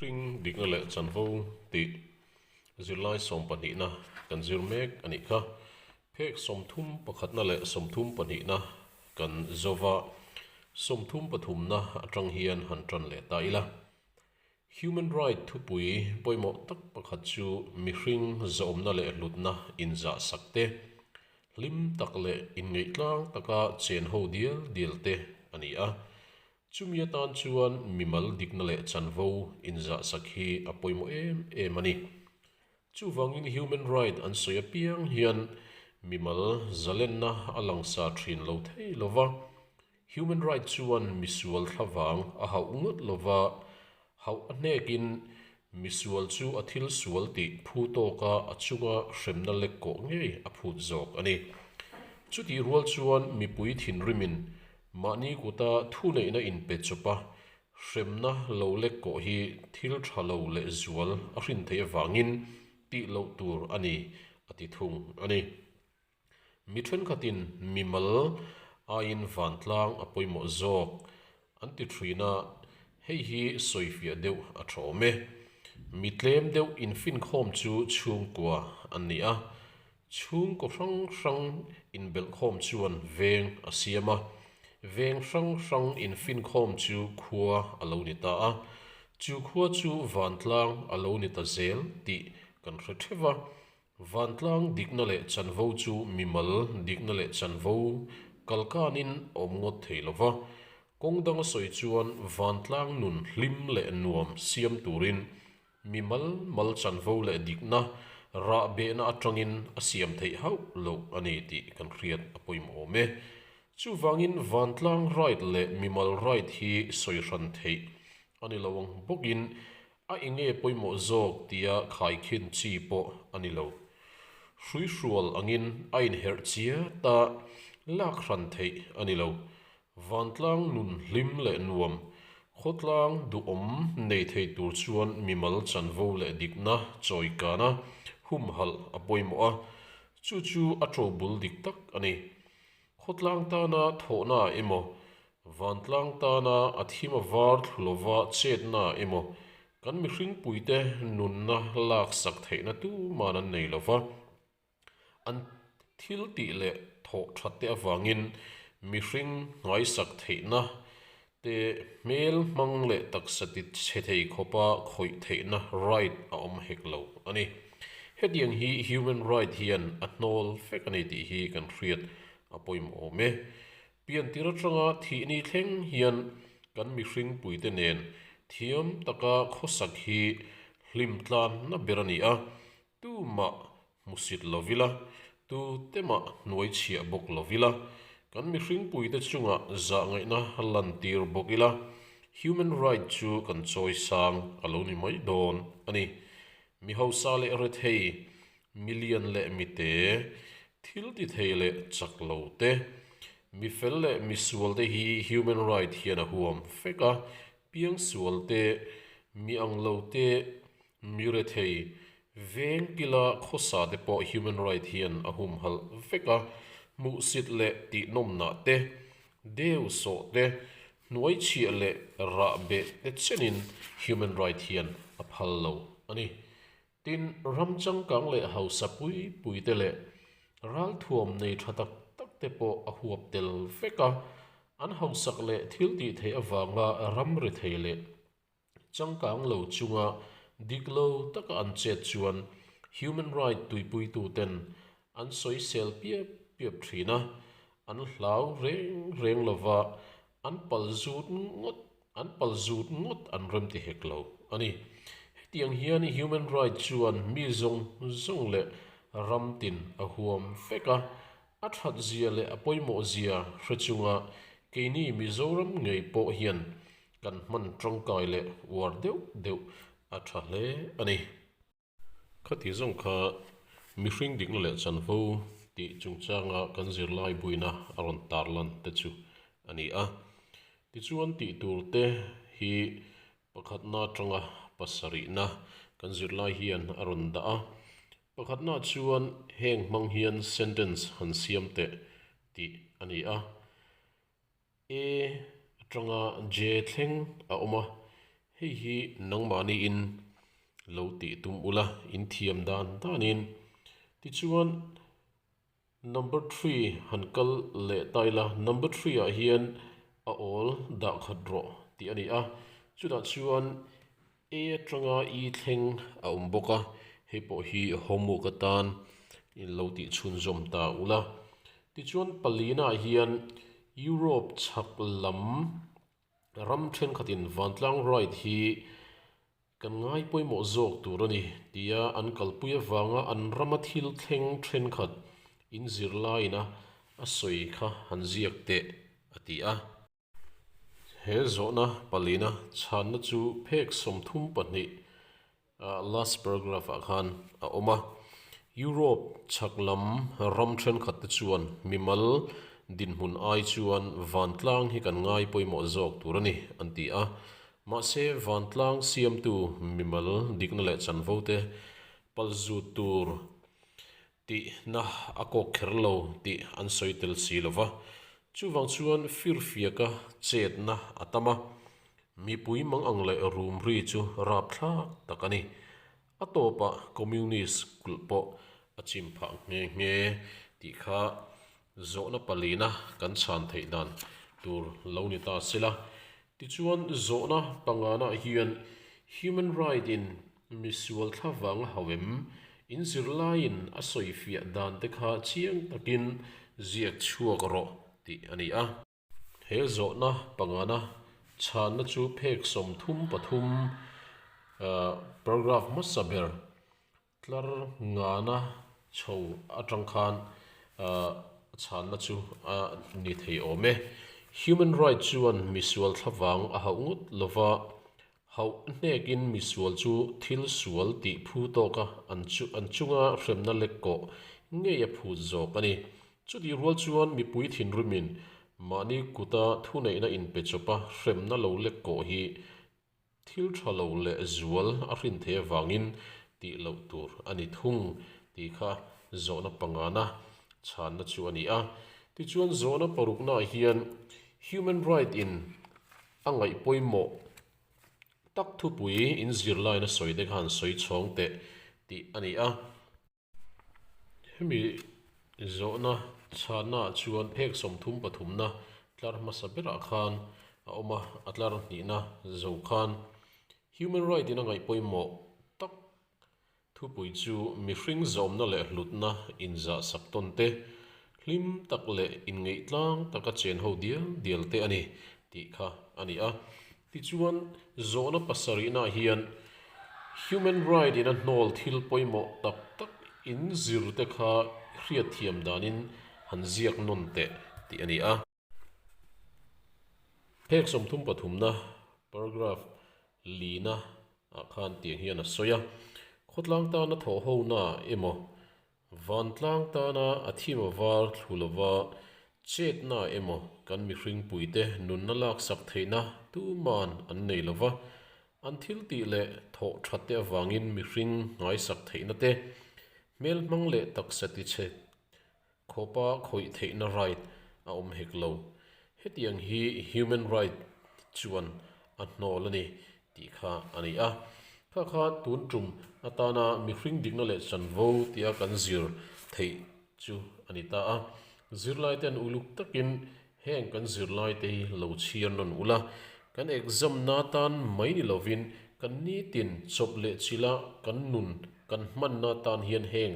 Hring dikna leh chanvo tih zirlai sawm pahnihna kan zir mek a nih kha. Phek sawmthum pakhatna leh sawmthum pahnihna kan zawv a, sawmthum pathumna atang hian han tan leh ta ila. Human Right thupui pawimawh tak pakhat chu mihring zawmna leh hlutna inzahsak te, hlim tak leh inngeih tlang taka chenho dial dial te a ni a. Chumi atan chuan mimal dikna leh chanvo inzahsak hi a pawimawh em em a ni. Chuvangin human right an sawi apiang hian mimal zalenna a langsar thin lo thei lova, human right chuan misual thlavang a hauh ngawt lova, Hauh a hnekin misual chu a thil sual tih phu tawk a, a chunga hremna lek kawh ngei a phut zawk a ni. Chutih rual chuan mipui thinrimin mahni kuta thuneihna inpe chupa hremna lo lek kawh hi thil tha lo lehzual a hrin theih avangin tih loh tur a ni, a ti thung a ni. Mi thenkhatin mimal aiin vantlang a pawimawh zawk an ti thin a, hei hi sawifiah deuh a thawm e. Mi tlem deuh infinkhawm chu chhungkua a ni a, chhungkaw hrang hrang inbelhkhawm chuan veng a siam a, veng hrang hrang infinkhawm chu khua a lo ni ta a, chu khua chu vantlang a lo ni ta zel tih kan hre theuh a. Vantlang dikna leh chanvo chu mimal dikna leh chanvo kal kanin a awm ngawt thei lo va, kawng danga sawi chuan vantlang nun hlim leh nuam siam turin mi malmal chanvo leh dikna rah behna atangin a siam theih hauh loh a ni tih kan hriat a pawimawh awm e. Chuvangin vantlang right leh mimal right hi sawi hran theih a ni lo ang bawkin A enge pawimawh zawk tia khaikhin chi pawh a ni lo. Hruihrual angin a inherh chia ta lak hran theih a ni lo. Vantlang nun hlim leh nuam, khawtlang duhawm nei thei tur chuan mimal chanvo leh dikna chawi kana humhalh a pawimawh a, chu chu a to bul dik tak a ni. Khawtlang tana thawhnaah emaw Vantlang tana a thim a var thlu lova chetna emaw, kan mihring puite nunna lak sak theihna tuman an nei lova, an thil tih leh thawh that te avangin mihring ngaisak theihna te hmel hmang leh taksa ti che thei khawpa khawih theihna right a awm hek lo a ni. Hetiang hi human right hian a hnawl fek a ni tih hi kan hriat a pawimawm e. Piantir atanga thihni thleng hian kan mihring puite nen thiam taka khawsak hi hlim tlan na ber a ni a, tumah hmusit lo ila, tu temah hnuai chhiah bawk lo ila, kan mihring puite chunga zahngaihna a lantir bawk ila human right chu kan chawisang a lo ni mai dawn a ni. Mi hausa leh rethei Million leh mite, thilti thei leh chak lo te, mifel leh misual te hi human right hian a huam fek a, piangsual te, mi ang lo te, mi rethei, veng kila khawsa te pawh human right hian a hum halh vek a, hmuhsit leh tihnawmnah te, deu sawh te, hnuai chhiah leh rah beh te chenin human right hian a phal lo a ni. Tin, ram changkang leh hausa pui pui te leh ralthuam nei tha tak tak te pawh a huap tel vek a. An hausak leh thiltihtheih avanga ram ri thei leh changkang lo chunga dik lo taka an chet chuan human right tuipuituten an sawisel piap piap thin a, an hlau reng reng lova an pal zut ngawt An pal zut ngawt an rem ti hek lo a ni. Hetiang hian human right chuan mi zawng zawng leh ram tin a huam fek a. A thatzia leh a pawimawhzia hre chunga keini Mizoram ngei pawh hian kan hman tangkai leh uar deuh deuh a tha hle a ni. Khati zawng kha mihring dikna leh chan fo tih chungchanga kan zirlai buina a rawn tar lan te chu a ni a. Tichuan tih tur te hi pakhatna atanga pasarihna kan zirlai hian a rawn dah a, pakhatna chuan heng hmang hian sentence han siam teh tih a ni a. E, atanga je thleng a awm a, hei hi nangmahniin lo tih tum ula inthiam dan danin. Tichuan number three han kal leh ta ila, number three ah hian a awl dahkhat rawh tih a ni a, chutah chuan. E atanga i thleng a awm bawk a, hei pawh hi homework atan in lo tih chhunzawm ta ula. Tichuan palianah hian Europe chhak lam ram thenkhatin vantlang ride hi kan ngai pawimawh zawk tur a ni tia an kalpui avanga an rama thil thleng thenkhat in zirlaiin a sawi kha han ziak teh, a ti a. He zawhna palina chhanna chu phek sawmthum pahnih a last paragraph ah khan a awm a. Europe chhak lam ram thenkhat te chuan mimal dinhmun ai chuan vantlang hi kan ngai pawimawh zawk tur a ni an ti a. Mahse vantlang siamtu mimal dikna leh chanvote palzut tur Tihna a kawk kher lo tih an sawi tel si lo va, chuvang chuan firfiaka chetna a tam a, mipui mangang leh rumri chu rap thlak tak a ni. A tawpah Communist kulh pawh a chim phah nghe nghe tih kha zawhna palina kan chhan theih dan tur lo ni ta sela, tichuan zawhna panganah hian human right in Mi sual thla vanga hau em? In zirlaiin a sawi fiah dante kha chiang takin ziak chhuak rawh tih a ni a. He zawhna pangana chhanna chu phek sawmthum pathum paragraph hmasa ber tlar ngana chho atang khan a chhanna chu a ni thei awm e. Human right chuan mi sual thla vang a hauh ngawt lova Hauh hnekin misual chu thil sual tih phu tawka an chu an chunga hremna lek kawh ngei a phut zawk a ni. Chutih rual chuan mipui thinrimin mahni kuta thuneihna inpe chawpa hremna lo lek kawh hi thil tha lo leh zual a hrin thei avangin tih loh tur a ni thung tih kha zawhna pangana chhanna chu a ni a. Tichuan zawhna paruknaah hian human right in. A ngaih pawimawh tak thupui in zirlaiin a sawi dek han sawi chhawng teh tih a ni a. Hemi zawhna chhahnaah chuan phek sawmthum pathumna tlar hmasa berah khan a awm a, a tlar hnihna zo khan human right in a ngaih pawimawh tak Thupui chu mihring zawmna leh hlutna inzahsak tawn te, hlim tak leh inngeihtlâng taka chen ho dial dial te a ni tih kha a ni a. Tichuan, zawhna pasarihnah hian human right in a hnawl thil pawimawh tak tak in zir te kha hriatthiam danin han ziak nawn teh tih a ni a. Phek sawmthum pathumna, paragraph, lina ah khan tiang hian a sawi a, Khawtlang tana thawhhona emaw, vantlang tana a thim a var thlu lova chetna emaw kan mihring puite nunna laksak theihna tuman an nei lo va, an thiltih leh thawh tha te avangin mihring ngaisak theihna te, hmelhmang leh taksa ti che Khawpa khawih theihna right a awm hek lo. Hetiang hi human right chuan a hnawl a ni tih kha a ni a. Kha kha tun tum atana mihring dikna leh chanvo tia kan zir theih chu a ni ta a. Zirlai ten uluk takin heng kan zirlai te hi lo chhiar nawn ula, kan exam na tan mai ni lovin kan nitin chawp leh chila kan nun kan hmanna tan hian heng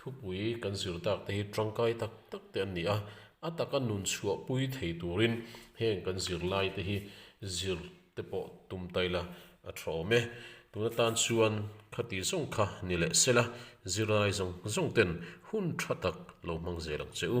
Thupui kan zirtâk te hi ṭangkai tak tak te an ni a, a taka nun chhuahpui thei tûrin hêng kan zirlai te hi zir te pawh tum ta ila a ṭha awm e. Tûna tân chuan khati zawng kha ni leh sela zirlai zawng zawngten hun ṭha tak lo hmang zel ang che u.